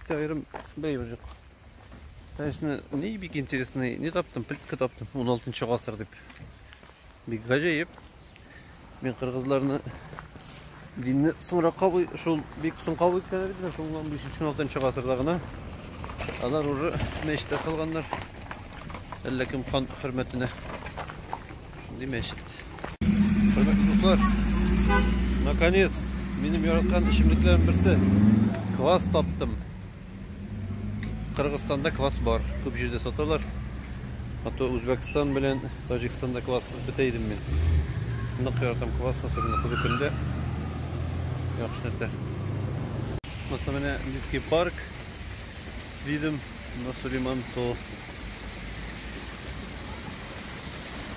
Аерым бәй юк. Конечно, не бик интересный, не таптым, плитка таптым, 16 гасыр дип. Бик гаҗәеп. Мин кыргызларны динне соңра кабый, шул бик соң кабый икән бит, шул 15-16 гасырда гына. Алар уже мәчеттә калганнар. Әллә кем хан хөрмәтенә. Шундый мәчет. Хөрмәтле дуслар, наконец, минем яраткан эчемлекләрем берсе. Квас таптым. Кыргызстанда квас бар. Күп җирдә саталар. А то Үзбәкстан белән Таҗикстанда квассыз бетә идем мин. Нык яратам квас, особенно кызу көндә. Яхшы нәрсә. Монысы менә Индийский парк с видом на Сулейман-Тол.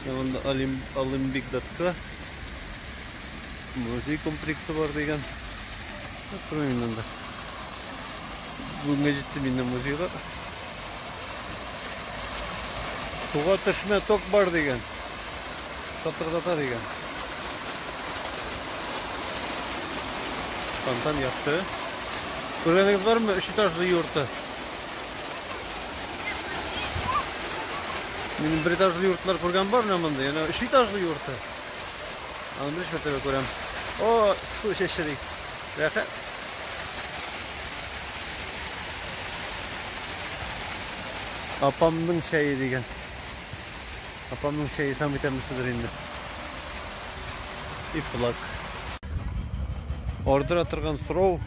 Янында Олимбик датка музей комплексы бар дигән. Торам инде анда. Бүгенге җиттем инде музейга. Суга төшмә ток бар дигән. Шатырдата дигән. Фонтан япты. Күргәнегез бармы? Өч этажлы йорты. Минем бер этажлы йортлар күргән бар менә монда. Яна өч этажлы йорты. Аны бер шәтәбә күрәм. О, су чәчри. Рәхәт. Апамның чәе дигән. Апамның чәе самый тәмлесидер инде. И флаг. Ардыра торган сорау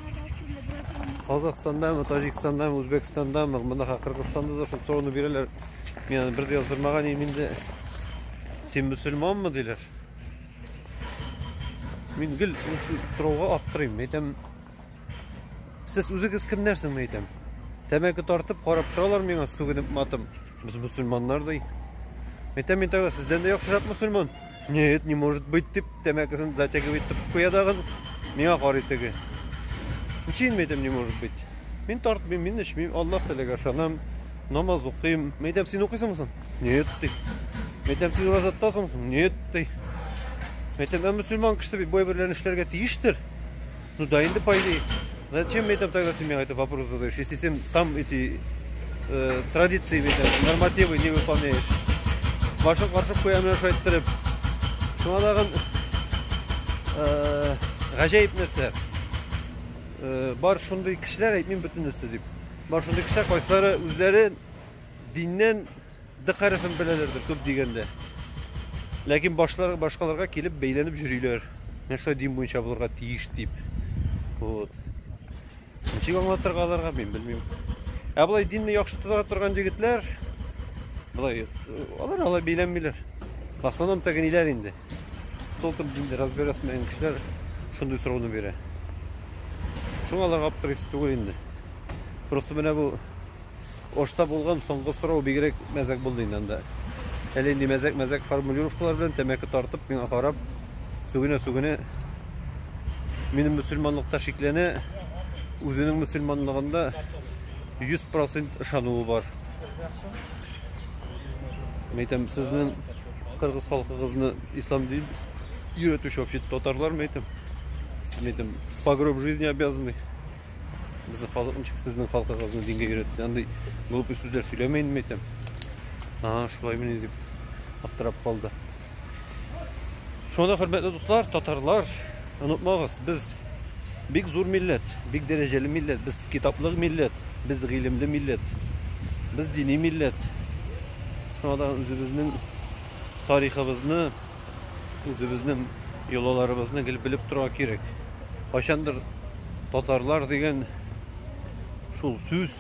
Казахстандамы, Таҗикстандамы, Үзбәкстандамы, мондагы Кыргызстанда да шул сорауны бирәләр. Мин аны бер дә яздырмаган идем инде. Син мөселманмы диләр. Мин гел сорауга аптырыйм. Әйтәм, Сез үзегез кемнәр соң, әйтәм? Тәмәке тартып карап торалар миңа сүгенеп матым. Без мусульманнар ди. Әйтәм мин тагы сездән дә яхшырак мусульман. Нет, не может быть дип тәмәкесен затягивай итеп куя дагы миңа карый теге. Нишлим әйтәм, не может быть. Мин тартмыйм, мин эчмим, Аллаһ теләгә ышанам, намаз укыйм. Әйтәм, син укыйсыңмы соң? Нет ди. Әйтәм, син уразаттасыңмы соң? Нет ди. Әйтәм, ә мусульман кешесе бит бу әйберләрне эшләргә тиештер. Ну да, инде по идее. Зачем мне там тогда семья? Это вопрос задаешь. Если сам, сам эти э, традиции, там, нормативы не выполняешь. Вашу каршы куямын шайттереп. Шуңа тагын э, гаҗәеп нәрсә. Э, бар шундый кешеләр әйтмим бөтенесе дип. Бар шундый кешеләр кайсылары үзләре Диннән Д хәрефен беләләрдер, күп дигәндә. Ләкин башлар башкаларга килеп бәйләнеп йөриләр. Менә шулай дин буенча булырга тиеш дип. Вот. Ничек аңлатырга аларга, мин белмим. Ә болай динне яхшы тота торган егетләр болай алар алай бәйләнмиләр. В основном тәгәниләр инде. Толком динде разбирасмаган кешеләр шундый сорауны бирә. Шуңа аларга аптырыйсы түгел инде. Просто менә бу Ошта булган соңгы сорау бигрәк мәзәк булды инде анда. Әле инде мәзәк-мәзәк формулировкалар белән тәмәке тартып, миңа карап, сүгенә-сүгенә минем мөселманлыкта шикләнә, үзенең мөселманлыгында 100% ышануы бар. Мәйтәм, сезнең кыргыз халкыгызны ислам дин йөрәтүче вообще татарлар мәйтәм. Сез мәйтәм, по гроб жизни обязаны. Безнең халык ничек сезнең халкыгызны дингә өйрәтте? Андый глупый сүзләр сөйләмә инде әйтәм. Ага, шулаймыни дип аптырап калды. Шунда хөрмәтле дуслар, татарлар, онытмагыз, без бик зур милләт, бик дәрәҗәле милләт, без китаплы милләт, без гыйлемле милләт, без дини милләт. Шунда үзебезнең тарихыбызны Үзебезнең йолаларыбызны гел белеп торга кирәк. Кайчандыр татарлар дигән шул сүз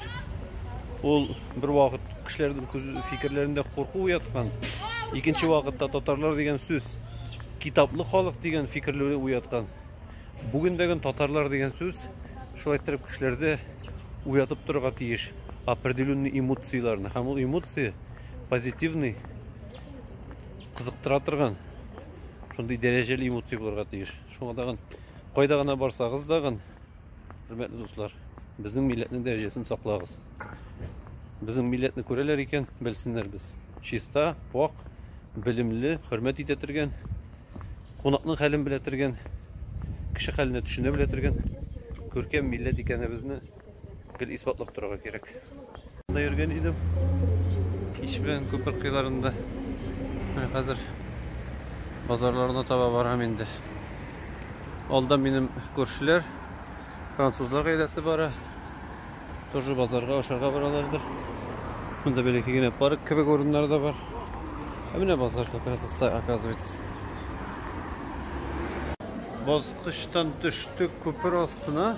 ул бер вакыт кешеләрнең күз фикерләрендә курку уяткан. Икенче вакытта татарлар дигән сүз китаплы халык дигән фикерләре уяткан. Бүгендәген татарлар дигән сүз шулай иттереп кешеләрдә уятып торырга тиеш определенный эмоцияләрне. Һәм ул эмоция позитивный кызыктыра торган шундый дәрәҗәле эмоция булырга тиеш шуңа тагын кайда гына барсагыз тагын хөрмәтле дуслар безнең милләтнең дәрәҗәсен саклагыз безнең милләтне күрәләр икән белсеннәр без чиста пак белемле хөрмәт итә торган кунакның хәлен белә торган кеше хәленә төшенә белә торган күркәм милләт икәнебезне гел исбатлап торырга кирәк. Да йөргән идем. Кич белән күпер кыйларында. Менә хәзер базарларына таба барам инде. Алда минем күршеләр, французлар гаиләсе бара. Тоже базарга ашарга баралардыр. Монда бәләкәй генә парк кебек урыннар да бар. Ә менә базар как раз оста оказывается. Баскычтан төштек күпер астына.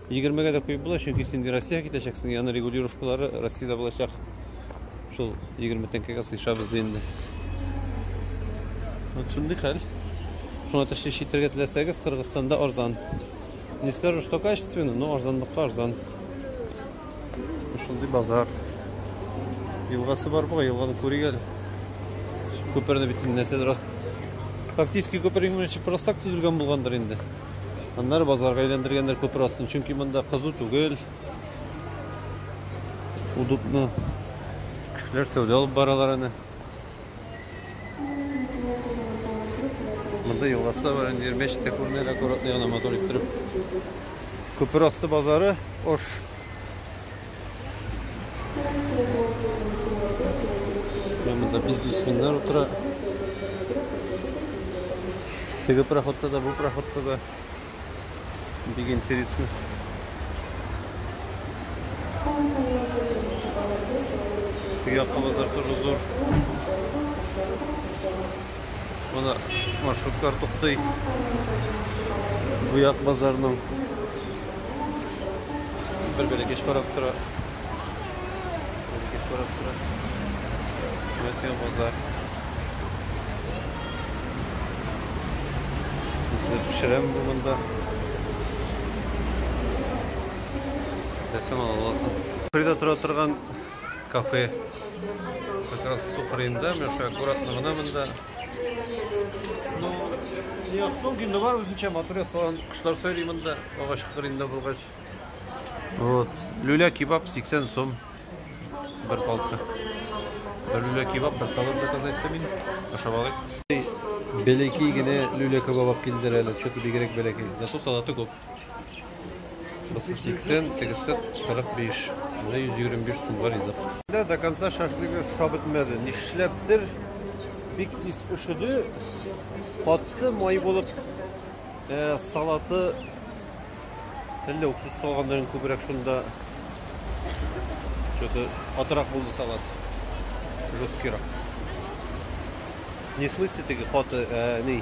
Егермегә дә куеп була, чөнки син Россиягә китәчәксең, яны регулировкалары Россиядә булачак. Шул егерме тәңкәгә сыйшабыз ди инде. Вот шундый хәл. Шуңа тәшли читергә теләсәгез, Кыргызстанда арзан. Не скажу, что качественно, но арзанлыкка арзан. Шундый базар. Елгасы бар буга, елганы күрик әле. Күперне бит нәрсә раз. Фактически күпер именно просто так төзелгән булгандыр инде. Аннары базарга әйләндергәннәр күпер астын, чөнки монда кызу түгел. Удобно. Кешеләр сәүдә алып баралар аны. Монда елгасы бар, инде мәчет тә күренә, аккуратно гына мотор иттереп. Күпер асты базары Ош Прямо да бизнесменнар утыра. Теге проходта да, бу проходта да. Бик интересно. Теге якка базар тоже зур. Монда маршрутлар туктый. Буяк базарының бер бәләкәч карап тора. Бәләкәч карап тора. Мәскәү базар. Үзләр пешерәм бу монда. Рәсем ала аласың. Фрида тора торган кафе. Как раз су кырыенда, менә шулай аккуратно гына монда. Ну, не яктың генде бар үзенчә матур ясалган. Кошлар сөйли монда, агач кырыенда булгач. Вот. Люля кебаб 80 сум. Бер палка. Бер люля кебаб, бер салат заказ итте мин. Ашап алыйк. Бәләкәй генә люля кебаб килдер әле, что-то бигрәк бәләкәй. Зато салаты күп. Бусы 80, тегесе 45. Менә 125 сумга ризык. Да до конца шашлыгы шап бетмәде. Нишләптер бик тиз өшеде. Катты май булып э, салаты әллә уксус салганнарын күбрәк шунда что-то атрак булды салат. Жесткирак. Не в смысле теге каты, ә, ни,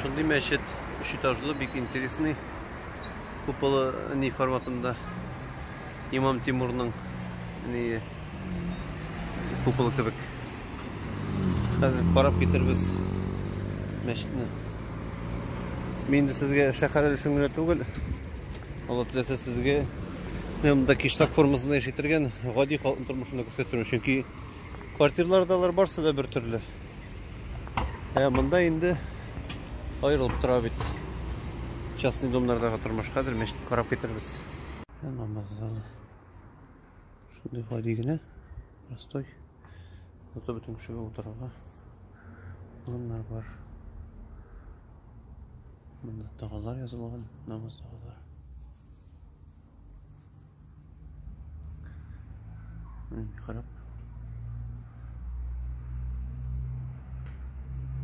Шундый мәчет, өч этажлы, бик интересный. Куполы ни форматында. Имам Тимурның ни куполы кебек. Хәзер карап китербез мәчетне. Мин инде сезгә шәһәр өлешен генә түгел, Алла теләсә сезгә монда киштак формасында яши торган гади халыкның тормышын да күрсәтер, чөнки Квартирлар да алар барсы да бер төрле. Ә монда инде аерылып тора бит. Частный домнардагы тормыш хәзер мәчет карап китербез. Намаз залы. Шундый гади генә. Простой. Ото бөтен кешегә утырырга. Урыннар бар. Монда тагалар язылган, намаз тагалар. Харап.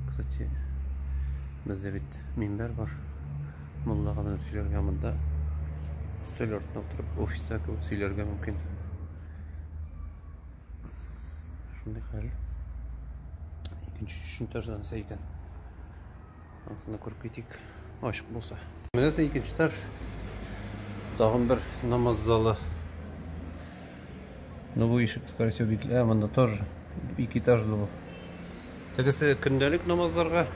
Кстати, бездә бит минбәр бар. Муллага менеп сөйләргә монда өстәл артына утырып офиста кебек сөйләргә мөмкин. Шундый хәл. Икенче өченче этаждан икән. Анысына күреп китик, ачык булса. Менә соң икенче этаж. Тагын бер намаз залы. Ну бу ишек, скорее всего, бикле. Ә, монда тоже ике этажлы бу. Тегесе көндәлек намазларга.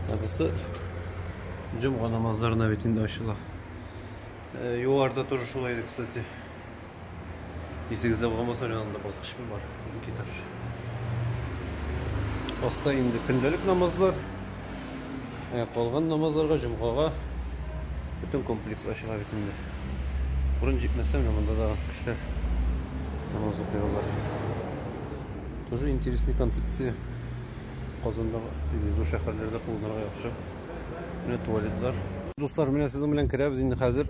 Тагысы җомга намазларына бит инде ачыла. Югарыда тоже шулай иде, кстати. Исегездә булмаса, янында баскычым бар, ике этаж. Аста инде көндәлек намазлар, ә калган намазларга, җомгага бөтен комплекс ачыла бит инде. Урын җитмәсә, менә монда да кешеләр намаз укыйлар. Тоже интересный концепция. Казандагы зур шәһәрләрдә кулланырга яхшы. Менә туалетлар. Дуслар, менә сезнең белән керәбез инде хәзер.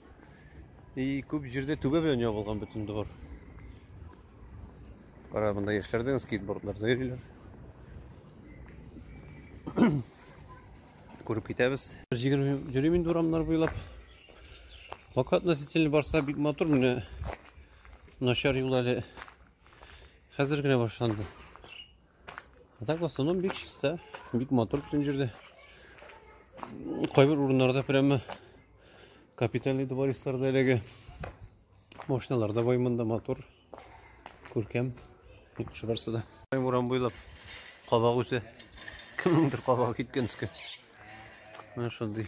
И күп җирдә түбә белән ябылган бөтен двор. Кара, монда яшьләрдән скейтбордларда йөриләр. Күреп китәбез. Йөрим инде урамнар буйлап. Вака относительно барса бик матур менә начар юл әле хәзер генә башланды. А так в основном бик чиста, бик матур бүтән җирдә. Кайбер урыннарда прямо капитальный дворецларда әлеге машиналар да бай монда матур, күркәм, яхшы барсы да. Урам буйлап кабак үсә. Кемнеңдер кабагы киткән өскә. Менә шундый.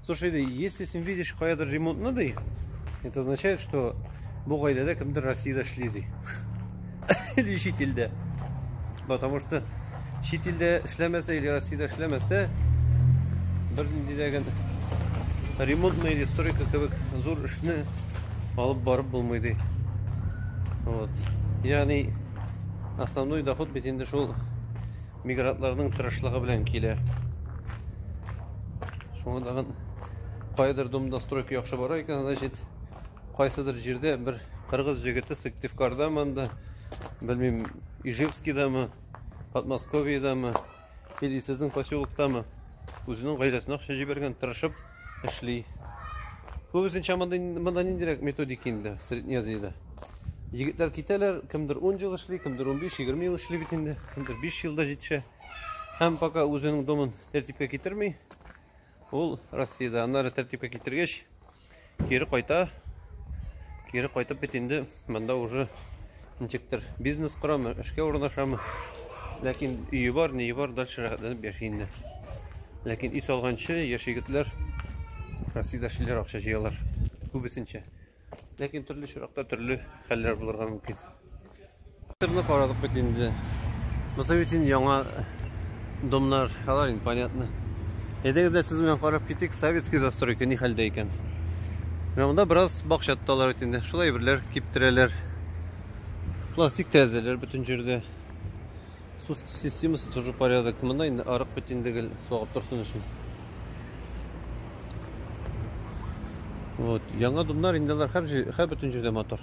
Слушай, ди, если син видишь каядыр ремонтны, ди, это означает, что бу гаиләдә кемдер Россиядә эшли, ди. Или чит илдә. Потому что чит илдә эшләмәсә или Россиядә эшләмәсә, бер нинди дә генә ремонтный или стройка кебек зур эшне алып барып булмый, ди. Вот. Ягъни основной доход бит инде шул Мигрантларның тырышлыгы белән килә. Шуңа тагын кайдыр домдостройка яхшы бара икән, значит, кайсыдыр җирдә бер кыргыз җегете Сыктывкарда монда, белмим, Ижевскидамы, Подмосковьедамы, или сезнең поселоктамы, үзенең гаиләсенә акча җибәргән, тырышып, эшли. Күбесенчә монда монда ниндирәк методика инде Среднеазиядә. Егетләр китәләр, кемдер 10 ел эшли, кемдер 15-20 ел эшли бит инде, кемдер 5 елда җитешә. Һәм пока үзенең домын тәртипкә китерми, ул Россиядә аннары тәртипкә китергәч, кире кайта. Кире кайтып бит инде Монда уже ничектер бизнес корамы, эшкә урнашамы. Ләкин өе бар, ние бар, дальше рәхәтләнеп яши инде. Ләкин өй салганчы яшь егетләр Россиядә шиләр акча җыялар. Күбесенчә. Ләкин төрле чиракта төрле хәлләр булырга мөмкин. Тырны карадык бит инде. Бусы бит инде яңа домнар, алар инде понятно. Әйдәгез дә сез белән карап китик, советский застройка ни хәлдә икән. Менә монда бераз бакча тоталар бит инде. Шул әйберләр киптерәләр. Пластик тәрәзәләр бөтен җирдә. Су системасы тоже порядок. Монда инде арык бит инде гел сагып торсын өчен. Вот, яңа домнар инде алар һәр һәр бөтен җирдә мотор.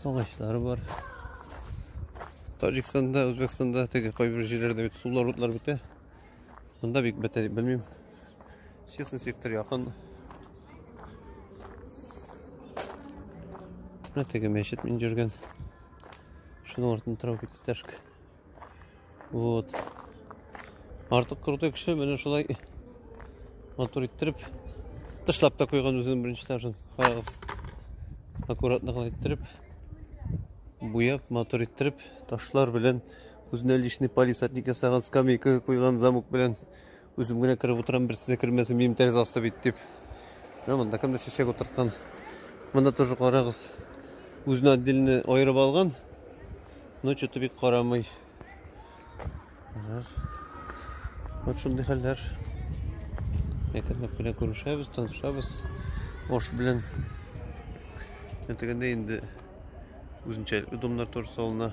Агачлары бар. Таҗикстанда, Үзбәкстанда теге кайбер җирләрдә бит сулар утлар бетә. Монда бик бетә дип белмим. Честный сектор якын. Менә теге мәчет мин йөргән. Шуның артында травка тәшк. Вот. Артык крутой кеше менә шулай матур иттереп тышлап та куйган үзен беренче этажын. Карагыз. Аккуратно гына иттереп буяп, матур иттереп, ташлар белән үзенә личный палисадник ясаган, скамейка куйган замок белән Үзем генә кереп утырам, берсе дә кермәсен, минем тәрәзә асты бит дип. Менә монда кемдер чәчәк утырткан. Монда тоже карагыз. Үзенә отдельно аерып алган. Но что-то бик карамый. Вот шундый хәлләр. Әкренләп кенә күрешәбез, танышабыз. Ош белән. Әтегәндә инде үзенчәлекле домнар туры салына.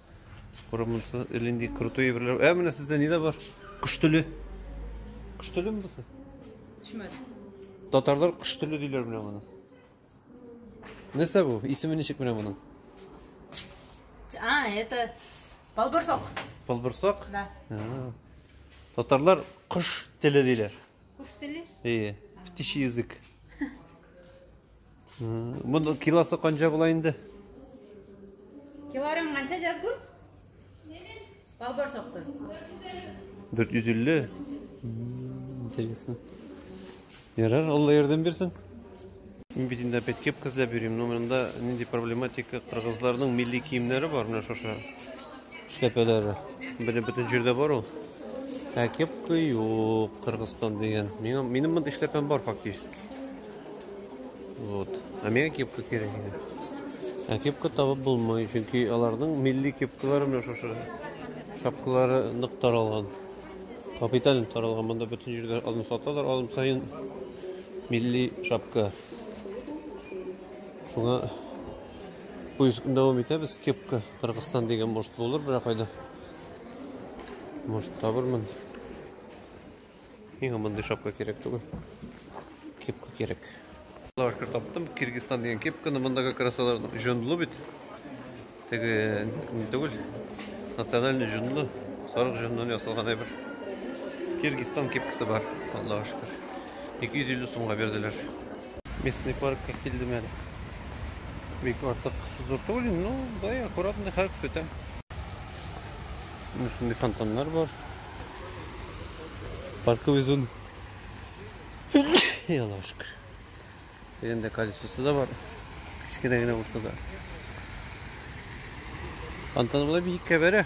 Кара монысы элинди крутой әйберләр. Ә менә сездә нидә бар? Кыш төле. Кыш төлеме бусы? Төшмәде. Татарлар кыш төле диләр менә моны. Нәрсә бу? Исеме ничек менә моның? А, это полбурсок. Полбурсок? Да. А. Татарлар кыш теле диләр. Кыш теле? Ие. Птичий язык. Моның килосы канча була инде? Килорың канча җазгу? Балбар сакты. 450. Интересно. Ярар, Алла ярдәм бирсен. Мин бит инде опять кепка эзләп йөрим, но монда нинди проблематика кыргызларның милли киемнәре бар менә шушы. эшләпәләре. Беле бөтен җирдә бар ул. Ә кепка юк, Кыргызстан дигән. Миңа минем монда эшләпәм бар фактически. Вот. Ә миңа кепка кирәк иде. Ә кепка табып булмый, чөнки аларның милли кепкалары менә шушы. Шапкалары нык таралган. Капитален таралган. Монда бөтен җирдә алым саталар, алым саен милли шапка. Шуңа поискны дәвам итәбез кепка Кыргызстан дигән может булыр берәр кайда. Может табырмын. Иң мондый шапка кирәк түгел. Кепка кирәк. Лавашка таптым. Кыргызстан дигән кепканы мондагы красалар җонлы бит. Теге не түгел. Национальный җонлы. Сарык җоннан ясалган әйбер. Кыргызстан кепкасы бар. Аллаһу шөкер. 250 сумга бирделәр. Местный паркка килдем әле. Бик артык зур түгел, но бай аккуратный хак сүтә. Менә шундый фонтаннар бар. Паркы везун. Аллаһу шөкер. Дегендә колесосы да бар. Кечкенә генә булса да. Фонтан була бик кәбәрә.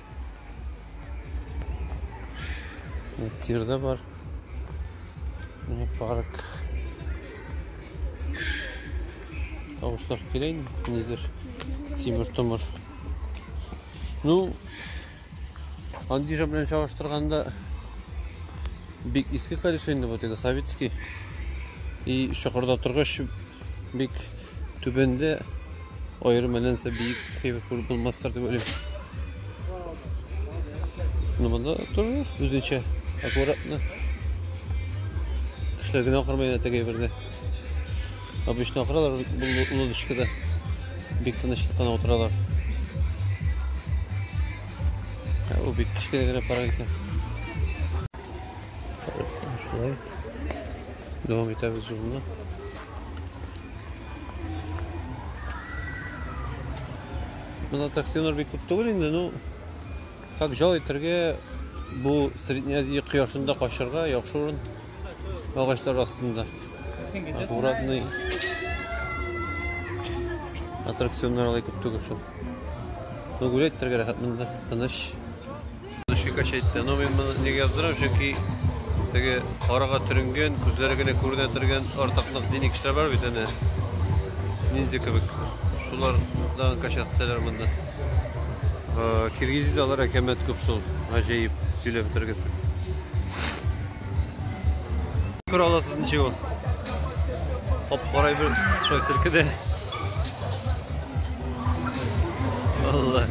Тир дә бар. Мини парк. Тавышлар килә инде. Нидер. Тимер томыр. Ну, Андижа белән чагыштырганда бик иске колесо инде бу теге советский. И чокырда торгач бик түбәндә аерым мәләнсә биек кебек күреп булмастыр дип уйлыйм. Ну монда тоже үзенчә аккуратно. Кешеләр генә акырмый янә теге бердә. Обычно акыралар бу лодочкада. Бик тынычлык кына утыралар. Ә бу бик кечкенә генә парк икән. Шулай. Devam ederiz yoluna. Мына таксилар бик күп түгел инде, ну как жол итәргә бу Среднеазия кояшында качарга яхшы урын агачлар астында. Аккуратный аттракционнар алай күп түгел шул. Ну гулять итәргә рәхәт монда, тыныч. Душкикач әйтте, но мин моны нигә яздырам, чөнки теге карага төренгән, күзләре генә күренә торган артыклык дини кешеләр бар бит әнә. Ниндзя кебек. Шулар да кача сәләр монда. Киргизиз алар әкәмәт күп шул. Гаҗәеп сөйләп бетергесез. Күр аласыз ничек ул? Хоп, карай бер стой силкеде. Алла.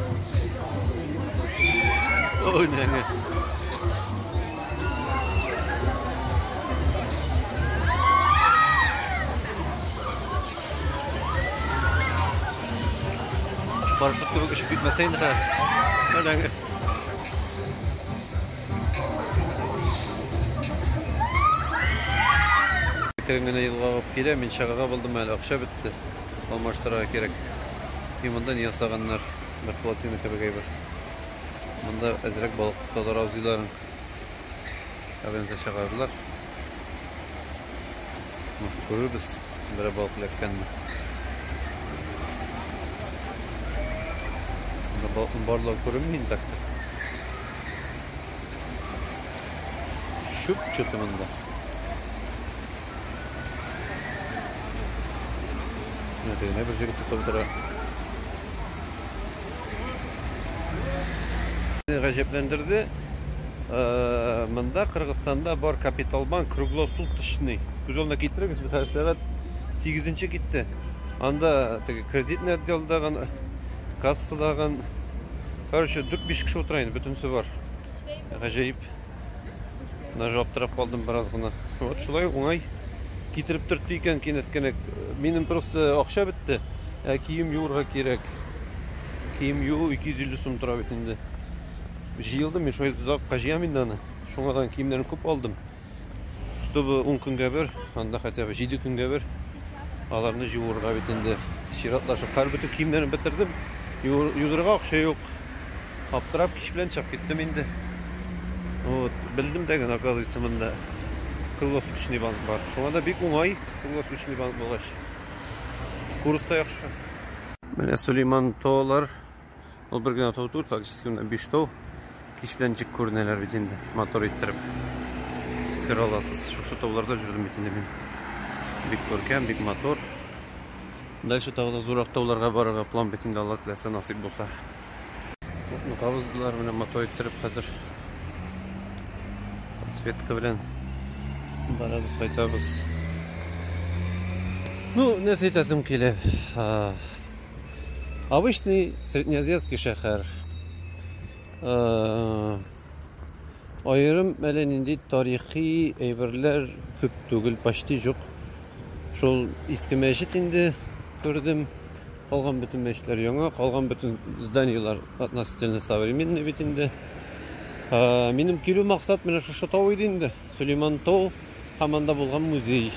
Ой, нәңе. Парашют кебек очып китмәсә инде. Нәңе. Әкрен генә елгагып килә, мин чыгарга булдым әле, акча бетте. Алмаштырырга кирәк. И монда не ясаганнар? Бер плотина кебек әйбер. Монда әзрәк балык тоталар абзыйларың. Әбензә чыгардылар. Мах күрербез, берәр балык эләккәнне. Монда балыкның барлыгы күренми интакта. Чүп чытымында. Менә тегенә бер җегет тотып утыра. Гаҗәпләндерде. Э, монда Кыргызстанда бар Капиталбанк круглосуточный. Күз алдына китерегез, без һәр сәгать 8 китте. Анда теге кредитный отделда гына кассадагы короче дүрт биш кеше утыра инде бөтенесе бар гаҗәеп даже аптырап калдым бераз гына вот шулай уңай китереп төртте икән кинәт кенә минем просто акча бетте ә кием юырга кирәк кием юу 250 сум тора бит инде җыелдым мин шулай озакка җыям инде аны шуңадан киемнәрен күп алдым Чтобы ун көнгә бер, анда хотя бы җиде көнгә бер аларны җуырга бит инде. Чиратлашып, хәл бөтен киемнәрен бетердем. Юдырга акча юк. Аптырап кич белән чыгып киттем инде. Вот, белдем дә генә, оказывается, монда круглосуточный банк бар. Шуңа да бик уңай круглосуточный банк булгач. Курс та яхшы. Менә Сулейман Толар Ул бер генә тау түгел, фактически монда биш тау. Кич белән ничек күренәләр бит инде, мотор иттереп. Күрә аласыз. Шушы тауларда жүрдем бит инде мин. Бик күркәм, бик мотор. Дальше тагы да зурак тауларга барырга план бит инде, Алла теләсә, насыйп булса. Утны кабыздылар, менә мотор иттереп хәзер. Подсветка белән барабыз, кайтабыз. Ну, нәрсә әйтәсем килә. Обычный среднеазиатский шәһәр. Аерым әле нинди тарихи әйберләр күп түгел, почти жоқ. Шул иске мәчет инде күрдем. Калган бөтен мәчетләр яңа, калган бөтен зданиеләр относительно современный бит инде. Минем килү максат менә шушы тау иде инде. Сөләйман тау һәм анда булган музей.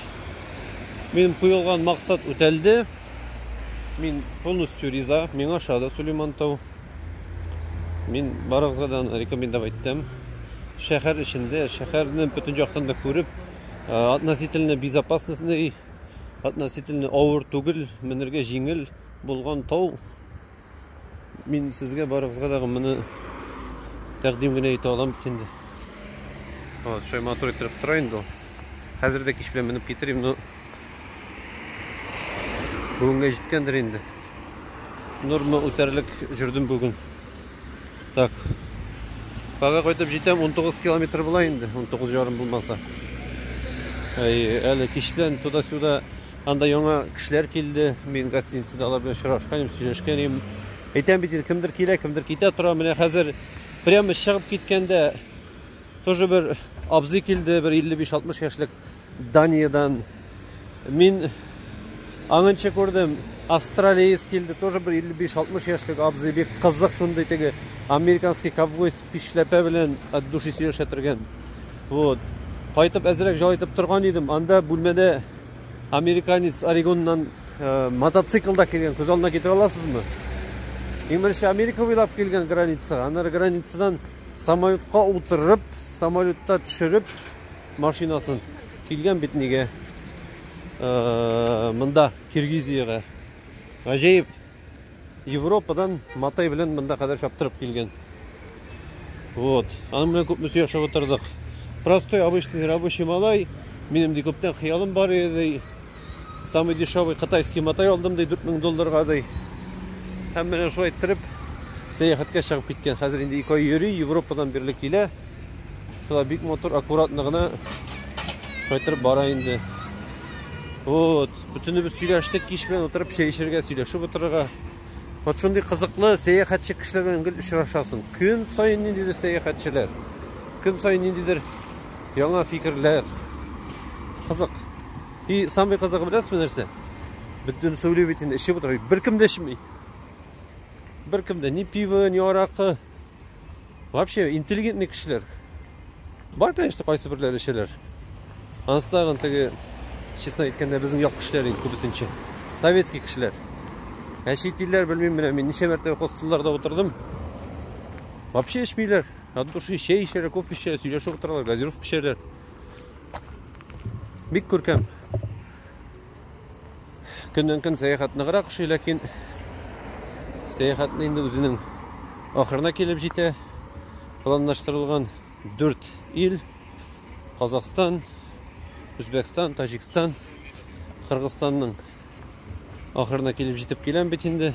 Минем куелган максат үтәлде. Мин полностью риза. Миңа ошады Сөләйман тау. Мин барыгызга да аны рекомендовать иттем. Шәһәр эчендә, шәһәрне бөтен яктан да күреп, относительно безопасностный, относительно авыр түгел, менергә җиңел булган тау. Мин сезгә барыгызга да моны тәкъдим генә итә алам бит инде. Вот, шулай матур иттереп тора инде ул. Хәзер дә кич белән менеп китерим, но бүгенгә җиткәндер инде. Норма үтәрлек жүрдем бүген. Так. Кага кайтып җитәм 19 километр була инде, 19 ярым булмаса. Әле кич белән туда-сюда Анда яңа кешеләр килде. Мин гостиницада алар белән очрашкан идем, сөйләшкән идем. Әйтәм бит, кемдер килә, кемдер китә тора. Менә хәзер прямо чыгып киткәндә тоже бер абзый килде, бер 55-60 яшьлек Даниядән. Мин аңынчы күрдем, австралиец килде, тоже бер 55-60 яшьлек абзый, бик кызык шундый теге американский ковбой пишләпә белән от души сөйләшә торган. Вот. Кайтып әзрәк җайлайтып торган идем. Анда бүлмәдә американец Орегоннан э, мотоциклда килгән, күз алдына китерә аласызмы? Иң беренче Америка буйлап килгән границага, аннары границадан самолетка утырып, самолетта төшереп машинасын килгән бит нигә э, монда Киргизиягә. Гаҗәеп. Европадан матай белән монда кадәр чаптырып килгән. Вот. Аның белән күпме сөйләшеп утырдык. Простой, обычный рабочий малай. Минем ди күптән хыялым бар иде. Самый дешевый китайский матай алдым ди 4000 долларга ди. Һәм менә шулай иттереп сәяхәткә чыгып киткән. Хәзер инде ике ай йөри, Европадан бирле килә. Шулай бик мотор, аккуратно гына шайтырып бара инде. Вот. Бөтенебез сөйләштек, кич белән утырып чәй эчәргә, сөйләшеп утырырга. Вот шундый кызыклы сәяхәтче кешеләр белән гел очрашасың. Көн саен ниндидер сәяхәтчеләр. Көн саен ниндидер яңа фикерләр. Кызык. И самый кызыгы беләсезме нәрсә? Бөтен сөйли бит инде, эчеп утыра. Беркем дә эчми. Беркем дә ни пиво, ни аракы. Вообще, интеллигентный кешеләр. Бар, конечно, кайсы берләр эчәләр. Анысы тагын теге, честно әйткәндә, безнең як кешеләр инде күбесенчә. Советский кешеләр. Ә чит илләр белмим менә мин ничә мәртәбә хостелларда утырдым. Вообще эчмиләр. От души чәй эчәләр, кофе эчәләр, сөйләшеп утыралар, газировка эчәләр. Бик күркәм. Көннән көн сәяхәт ныграк ошый, ләкин сәяхәтне инде үзенең ахырына килеп җитә. Планлаштырылган 4 ил Казахстан, Үзбәкстан, Таҗикстан, Кыргызстанның ахырына килеп җитеп киләм бит инде.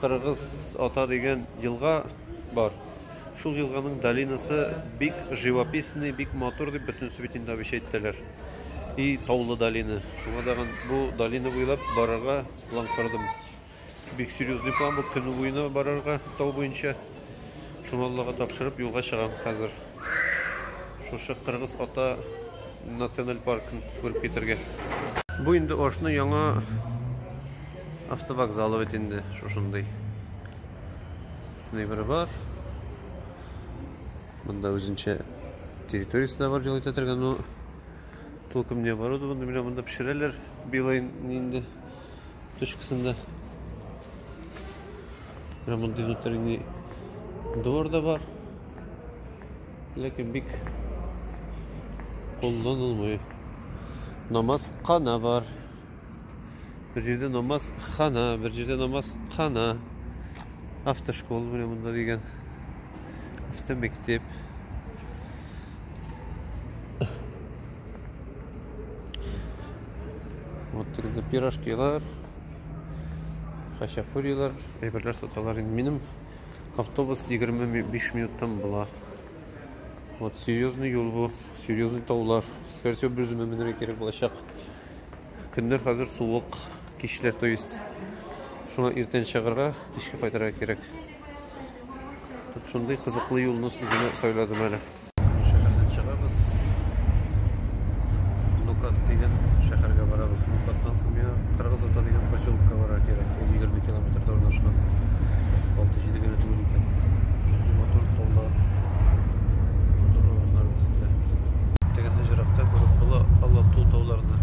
Кыргыз Ата дигән елга бар. Шул елганың долинасы бик живописный, бик матур дип бөтен Светин Давич әйттеләр. И таулы долина. Шуңа тагын бу долина буйлап барырга план кордым. Бик серьезный план бу, көне буена барырга тау буенча. Шуны Аллага тапшырып юлга чыгам хәзер. Шушы Кыргыз ата националь паркын күреп китергә. Бу инде Ошны яңа автовокзалы бит инде шушындый. Нибер бар. Монда үзенчә территориясе дә бар җылыта торган, ну, толком не оборудованы, менә монда пешерәләр билайн инде. точкасында. Ремонт внутренний двор да бар. Ләкин бик кулланылмый. Намаз кана бар. Бер җирдә намаз хана, бер җирдә намаз хана. Автошкола менә монда дигән. Автомектеп. Вот инде пирожкилар, хачапурилар, әйберләр саталар инде. Минем автобус 25 минуттан була. Вот серьезный юл бу, серьезный таулар. Скорее всего, без менергә кирәк булачак. Көннәр хәзер суык, кичләр, то есть. Шуңа иртән чыгарга, кичке кайтырга кирәк. Шундый кызыклы юлны үземә сайладым әле. Шәһәрдән чыгабыз. Нукат дигән шәһәргә барабыз. Нукаттан соң миңа Кыргыз ата дигән поселокка барырга кирәк. Ул 20 километрда урнашкан. 6-7 генә түгел икән. Шундый матур таулар, матур урыннар үзендә. Тегендә җыракта күреп була Алату тауларны.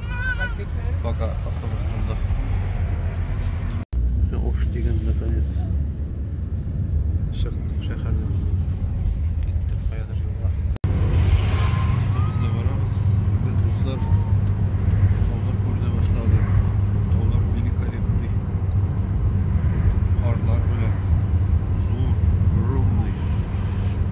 Пока автобус булды. Уш дигән наконец чыктык шәһәрдән. Киттек каядыр юлга. Автобуста барабыз. Без дуслар таулар күренә башлады. Таулар великолепный. Карлар белән зур, огромный.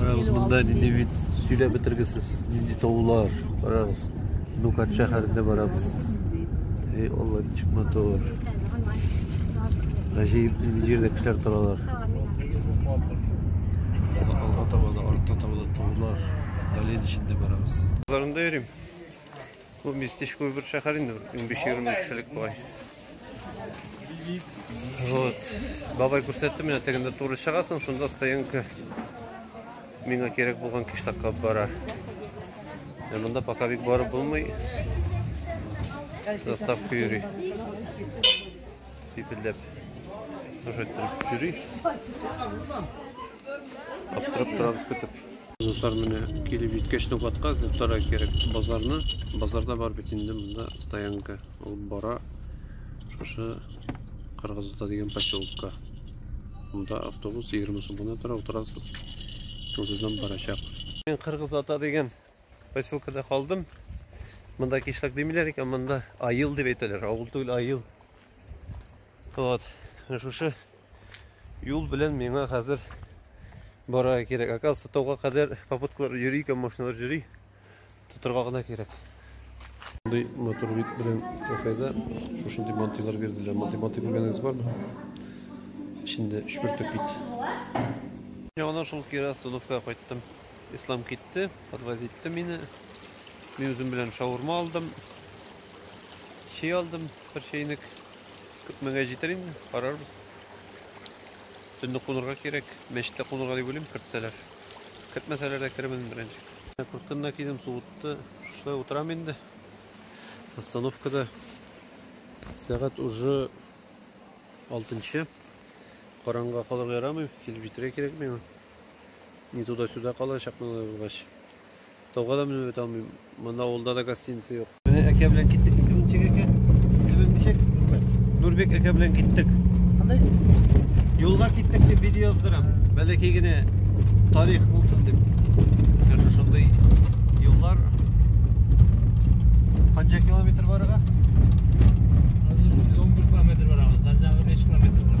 Карагыз, монда нинди бит сөйләп бетергесез, нинди таулар. Карагыз, Нукат шәһәрендә барабыз. Эй, Алла, ничек матур. Гаҗәеп нинди җирдә кешеләр торалар. Алга таба да, артта таба да таулар. Дален эчендә барабыз. Базарында йөрим. Бу местечко бер шәһәр инде, 15-20 кешелек бугай. Вот. Бабай күрсәтте менә тегендә туры чыгасың, шунда стоянка миңа кирәк булган киштакка бара. Ә монда пока бик барып булмый. Заставка йөри. Сипелдәп. Уже йөри. Аптырап торабыз көтеп. Дуслар менә килеп җиткәч нокатка зөптара кирәк базарны. Базарда бар бит инде монда стоянка. Ул бара шушы Кыргызда дигән поселокка. Монда автобус 20 сумга тора, утырасыз. Үзеннән барачак. Мин Кыргыз ата дигән поселкада калдым. Монда кишләк димиләр икән, монда айыл дип әйтәләр. Авыл түгел, айыл. Вот, шушы юл белән миңа хәзер бара кирәк. Оказывается, тауга кадәр попуткалар йөри икән, машиналар йөри. Тотырга гына кирәк. Мондый мотор бит белән кафеда шушындый мантилар бирделәр. Мантый мантый күргәнегез бармы? Эчендә өч бөртек бит. Яңадан шул кире остановкага кайттым. Ислам китте, подвозитте мине. Мин үзем белән шаурма алдым. Чәй алдым, бер чәйнек. Күпмегә җитер инде, карарбыз. Төнне кунырга кирәк. Мәчеттә кунырга дип уйлыйм, кертсәләр. Кертмәсәләр дә керермен беренче. Куркынна кидем, суытты. Шушылай утырам инде. Остановкада сәгать уже алтынчы. Караңга калырга ярамый, килеп җитәргә кирәк миңа. Не туда-сюда калачакмын алай булгач. Тауга да менеп бетә алмыйм. Монда авылда да гостиница юк. Менә әкә белән киттек. Исеме ничек әкә? Исеме ничек? Нурбек әкә белән киттек. Андай юлга киттек дип видео яздырам. Бәләкәй генә тарих булсын дип. Менә шушындый юллар. Канча километр барырга? Хәзер 111 километр барабыз. Дарҗага 5 километр бар.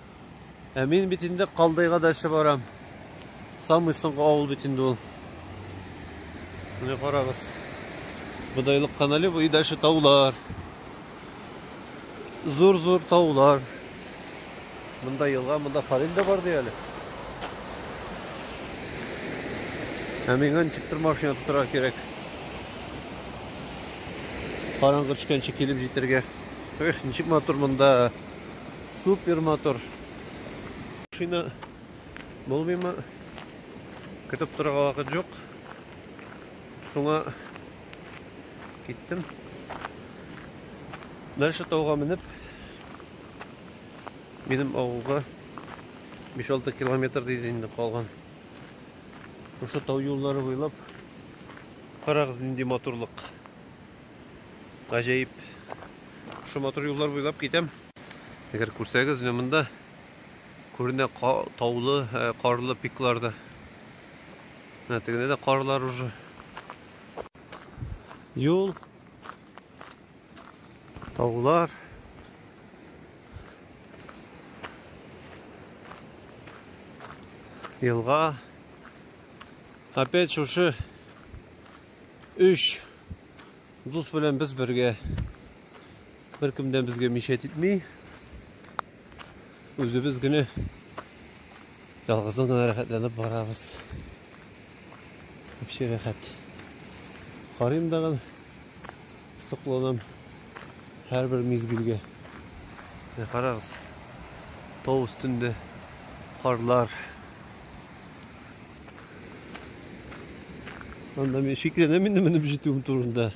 Ә мин бит инде Калдыйга дача барам. Самый соңгы авыл бит инде ул. Менә карагыз. Бодайлык канале бу и дальше таулар. Зур-зур таулар. Монда елга, монда Фарил дә бар ди әле. Ә миңа ничек төр машина тотырга кирәк? Караңгы төшкәнче килеп җитәргә. Эх, ничек матур монда. Супер матур. Шина булмыймы? Көтеп торырга вакыт юк. Шуңа киттем. Дальше тауга менеп минем авылга 5-6 километр дейді инде калган. Шушы тау юллары буйлап карагыз нинди матурлык. Гаҗәеп. Шушы матур юллар буйлап китәм. Әгәр күрсәгез, менә монда күренә таулы, э, карлы пикларда. Менә тегендә дә карлар уже. Юл. Таулар. Елга. Опять шушы Өч дус белән без бергә. Беркемдән безгә мишәт итми. Үзебез генә ялгыздан гына рәхәтләнеп барабыз. Вообще рәхәт. Карыйм дагын сокланам һәрбер мизгелгә. Менә карагыз. Тау өстендә карлар Анда мин шикләнәм инде менеп җитүем турында.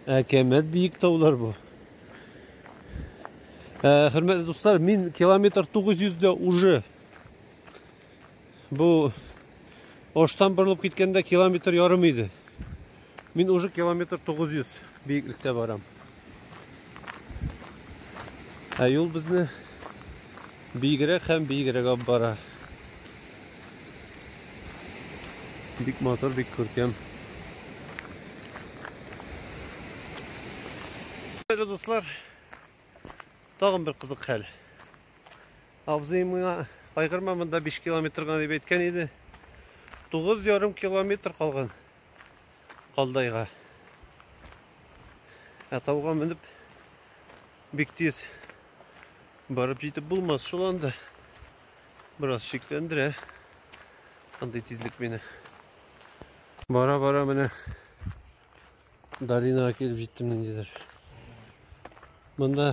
Әкәмәт биек таулар бу. Ә, хөрмәтле дуслар, мин километр 900 дә уже бу оштан борылып киткәндә километр ярым иде. Мин уже километр 900 биеклектә барам. Ә юл безне биегрәк һәм биегрәк алып бара. Бик матур, бик күркәм. Хәерле дуслар, тагын бер кызык хәл. Абзый миңа кайгырма, монда 5 километр гына дип әйткән иде. 9,5 километр калган. Калдайга. Ә тауга менеп бик тиз барып җитеп булмас шул анда. Бераз шикләндерә андый тизлек мине. Бара-бара менә долинага килеп җиттем ниндидер. Монда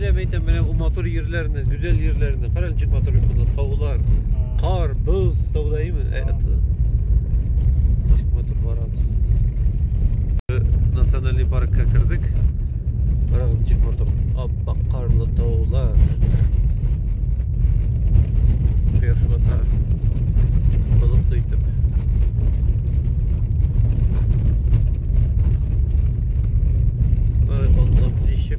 Әйтәм, әйтәм, менә бу матур җирләрне, гүзәл җирләрне. Кара ничек матур бит монда таулар, кар, боз, таудаемы? Ә, т- Ничек матур барабыз. Э, Национальный паркка кердек. Барабыз ничек матур. Аппак карлы таулар. Кояш бата. Болытлы итеп. Ай, Аллам, ничек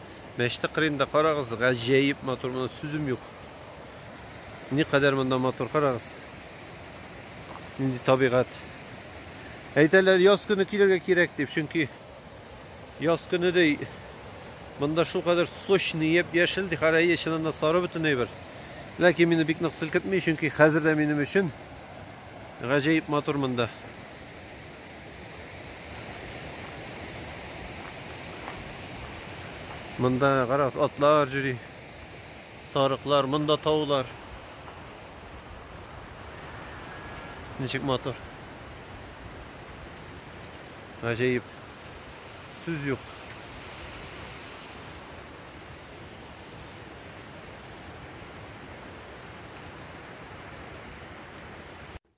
Мәчете кырыенда карагыз, гаҗәеп матур, моны сүзем юк. Ни кадәр монда матур карагыз. Нинди табигать. Әйтәләр, яз көне килергә кирәк дип, чөнки яз көне дей Монда шул кадәр сочный еп яшел, дихарайы чынында сары бөтен әйбер. Ләкин мине бик нык селкетми, чөнки хәзер дә минем өчен гаҗәеп матур монда. Монда гарас атлар җири. Сарыклар, монда таулар. Ничек матур. Гаҗәеп. Сүз юк.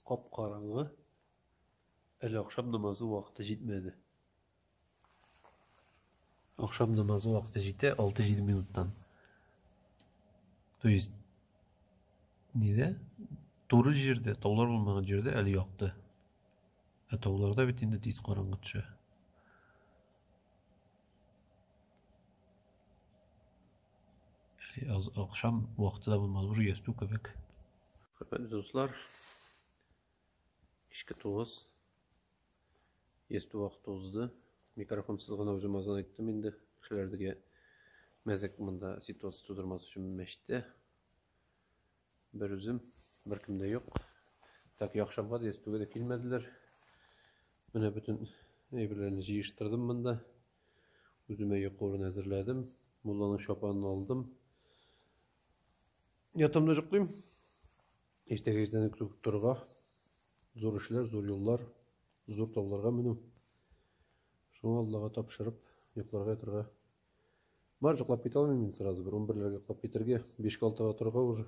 Кап-караңгы. Әле ахшам намазы вакыты җитмәде. Ахшам намазы вакыты җитә 6-7 минуттан. То есть нидә? Туры җирдә, таулар булмаган җирдә әле якты. Ә тауларда бит инде тиз караңгы төшә. Әле ахшам вакыты да булмады, уже ястү кебек. Хөрмәтле дуслар, Кичке тугыз. Есту вакыты узды. Микрофонсыз гына үзем азан иттем инде. Кешеләрдәге мәзәк монда ситуация тудырмас өчен мәчтә. Бер үзем, бер кемдә юк. Так яхшамга да естуга да килмәделәр. Менә бөтен әйберләрне җыештырдым монда. Үземә йокы урын әзерләдем. Мулланың чапанын алдым. Ятамда йоклыйм. Иртәгә иртән үк торырга. Зур эшләр, зур юллар, зур тауларга менү. Шуңа Аллага тапшырып, йокларга ятырга. Бар йоклап китә алмыйм мин сразу бер 11 ләргә йоклап китәргә, 5-6 га торырга уже.